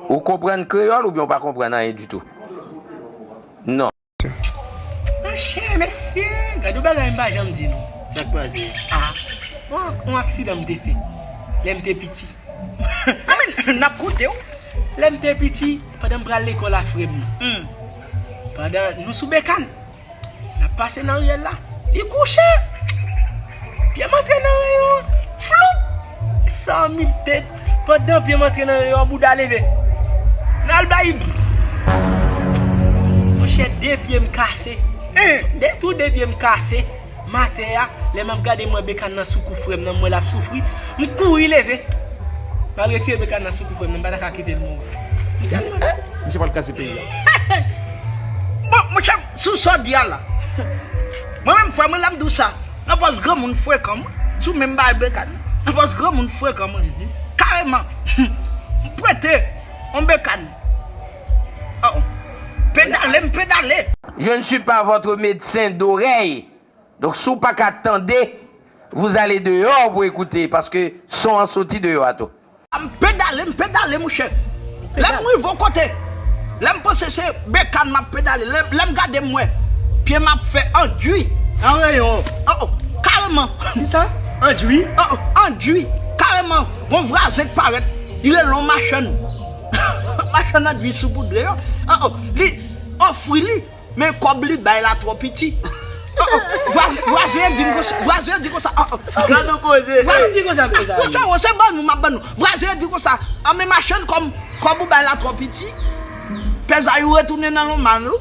Ou konprann kreyòl oubyen ou pa konprann anyen ditou? Non. Monchè, mesye! Gad yon bagay m pa janm di nou. Sa k pase? A! Yon aksidan m te fè lè m te piti. A men, n ap koute w! Lè m te piti, pandan m pral lekòl ak frè m nan. Pandan nou sou bekàn. Nap pase nan riyèl la. Li kouche! Pye m antre nan reyon an. Floup! San mil tèt. Pandan pye m antre nan reyon an, bouda leve. N al bay li. Monchè, de pye m kase. Tou de pye m kase. Maten a, lè m ap gade m wè Bekan nan sou kou frè m nan, m wè l ap soufri, m kouri leve. M al retire Bekan nan sou kou frè m nan, m pa ta ka kite l mouri. M te mande. Misye pral kraze peyi a. Bon, monchè, sou sa w di a la, mwen menm frè mwen la m di w sa, anfòs granmoun frekan mwen, sou menm bagay Bekan nan, anfòs granmoun frekan mwen, kareman, m prete yon Bekan. Oh pedale m pedale. Je ne suis pas votre médecin d'oreille donc si w pa ka tande vous allez dehors pou écouter paske son an soti deyò a tou. M pedale m pedale mouche lè m rive yon kote lè m panse se bekàn m ap pedale lè m gade m wè pye m ap fè andui an reyon oh oh kareman. Kisa? Andui? Oh oh andui kareman gon vwazen k parèt li rele yon machann. Machann an dwi soupoudre yo oh oh li ofri li men kob li bay la tro piti oh oh vwazen an dim konsa vwazen an di konsa oh oh gad on koze fouco oh se ban nou map ban nou vwazen an di konsa an men machann kob ou bay la tro piti pè zayou retounen nan lonman l ou.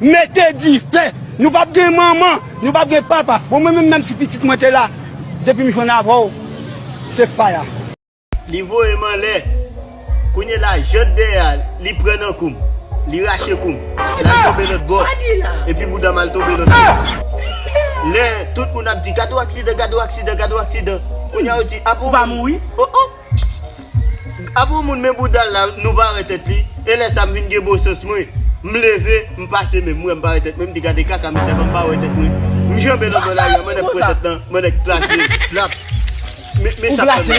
Mete dife! Nou pap gen manman, nou pap gen papa. Bon mwen menm menm si pitit mwen te la depim jwenn avèw se fire. Li voyem anlè Kounye la jant dèyè a li pran nan koum Li rache koum Lal tonbe lòt bò Epi boudam al tonbe lòt bò Lè tout moun ap di gad on aksidan gad on aksidan gad on aksidan Kounya yo di ah bon oh oh. Apre yon moun men bouda l la nou pa wè tèt li e lè sa m vin gen bon sans mwen m leve m pase men m wè m pa wè tèt mwen m di gade kaka misye ap fè m pa wè tèt mwen m janbe nan bò lari a mwen nèk pran tèt nan mwen nèk plase lap men sa ap fè mal wi.